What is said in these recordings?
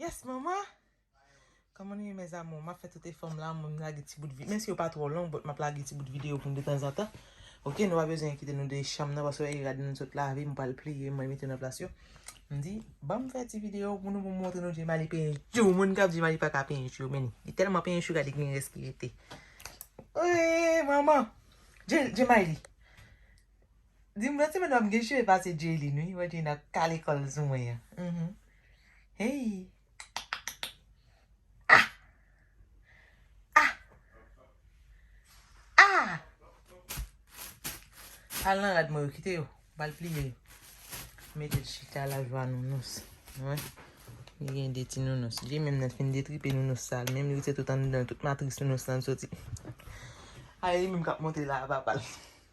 Yes mama! Kòman nou ye mes amours? Map fè tout efòm la mwen lage ti bout vi, menm si yo pa twò long but map lage ti bout video pou nou detanzantan ok nou pa bezwen enkite nou de chanm nan paske wè e rad nou sot lave mwen pral pliye mwen mete nan plas yo mdi banm fè ti video pou nou pou montre nou djemali penyen chou moun kap di djemali paka penyen chou yo men li telman penyen chou gade kimen rès ki rete ooeeee manman djemali Dim lòt semèn wap gen cheve pase Jaylin wi wè Jaylin ap kale kòl sou mwen an humm heyy ah ah ah al nan rad mwen yo kite yo bal pliye yo metel chita la jwa nounous wè li gen de ti nounous li menm nan fin detripe nounous sa li menm li rete tout anndan tout matris nounous lan soti a li menm kap monte la a papal.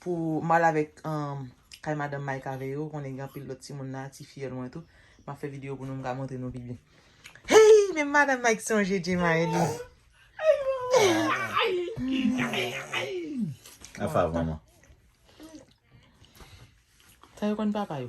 Pou mal avèk kay madanm Mike avè yo, konnen gen anpil lòt timoun la, ti fiyèl mwen tou. M ap fè videyo pou nou m ka montre nou pi byen. Hey! Men madanm Mike sonje Djemaili. Afa vanman. Sa yo konn papa yo.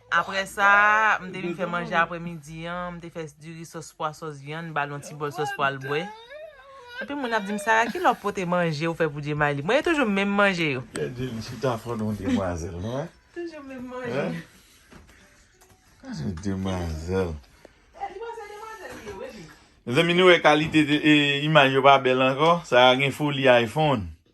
Apre sa, m te vin fè manje apre midi an, m te fè diri sòs pwa sòs vyann, m ba l yon ti bòl sòs pwa l bwè. Anpil moun ap di m, Sara ki lè w pote manje ou fè pou Djemaili? Mwen e toujou menm manje yo. Gad je li chita fò non demwazèl non hein. Toujou menm manje. Gad yon demwazèl. Li pa se demwazèl li ye wi epi. Mezanmi nou wè kalite imaj yo pa bèl ankò? Sara gen foli iPhone.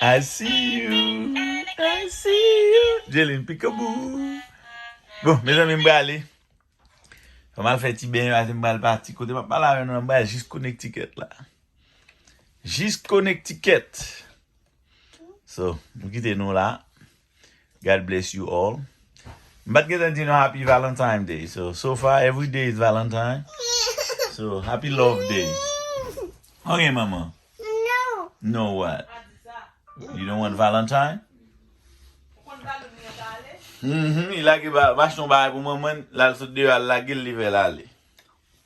I see you, I see you Djelin pikabou Bon mezanmi m prale Fò m al fè ti benyen pase m pral pati Kote m ap pale avè nou an m pral jis Connecticut la Jis Connecticut So m kite nou la God bless you all. M pat gentan di nou happy valentine day so so far every day is valentine so happy love day ok manman no what you don't want valentine uhmm li lage bachon bay pou manman lal sot deyo al lagel li fel ale.